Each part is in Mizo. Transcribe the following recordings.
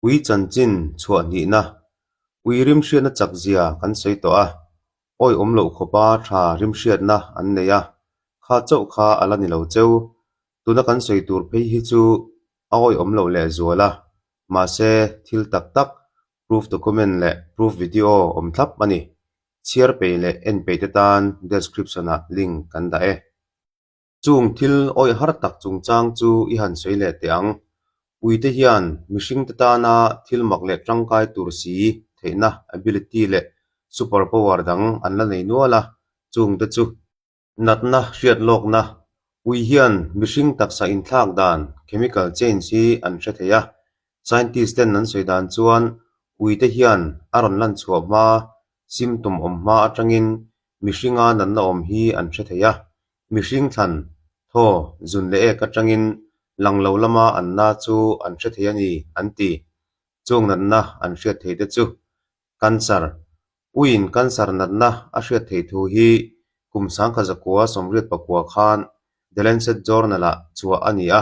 Ui chanchin chhuah hnihna, ui rimhriatna chak zia kan sawi tawh a, awi awm loh khawpa tha rimhriatna an nei a, kha chauh kha a la ni lo cheu. Tuna kan sawi tur phei hi chu awi awm loh leh zual a, mahse thil tak tak, proof document leh proof video awm thlap a ni. Chhiar peih leh en peih te tan description ah link kan dah e. Chung thil awih har tak chungchang chu i han sawi leh teh ang. Puite hian mihringte tana thil mak leh tangkai tur si theihna ability leh super power dang an la nei nual a, chung te chu. Natna hriat lawkna, Pui hian mihring taksa inthlak dan, chemical change, hi an hre thei a. Scientist ten an sawi dan chuan puite hian a rawn lan chhuah hma, symptom awm hma atangin mihringa natna awm hi an hre thei a. Mihring thlan thaw zun leh ek atangin lang lo lama an na chu an hre thei a ni an ti. Chung natna an hriat theih te chu Cancer, Uiin cancer natna a hriat theih thu hi kum sangkha zakua sawmriat pakua khan The Lancet Journal-ah chhuah a ni a,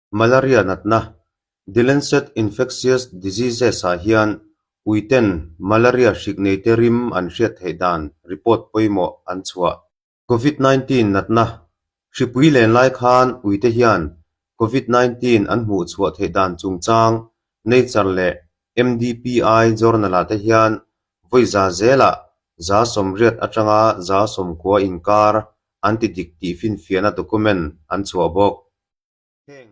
Malaria natna, The Lancet Infectious Diseases-ah hian uiten malaria hrik neite rim an hriat theih dan report pawimawh an chhuah. Covid nineteen natna, Hripui len lai khan uite hian Covid nineteen an hmuh chhuah theih dan chungchang Nature leh MDPI journal-ah te hian vawiza zelah za sawmriat atanga za sawmkua inkar an ti dik tih finfiahna document an chhuah bawk. Heng.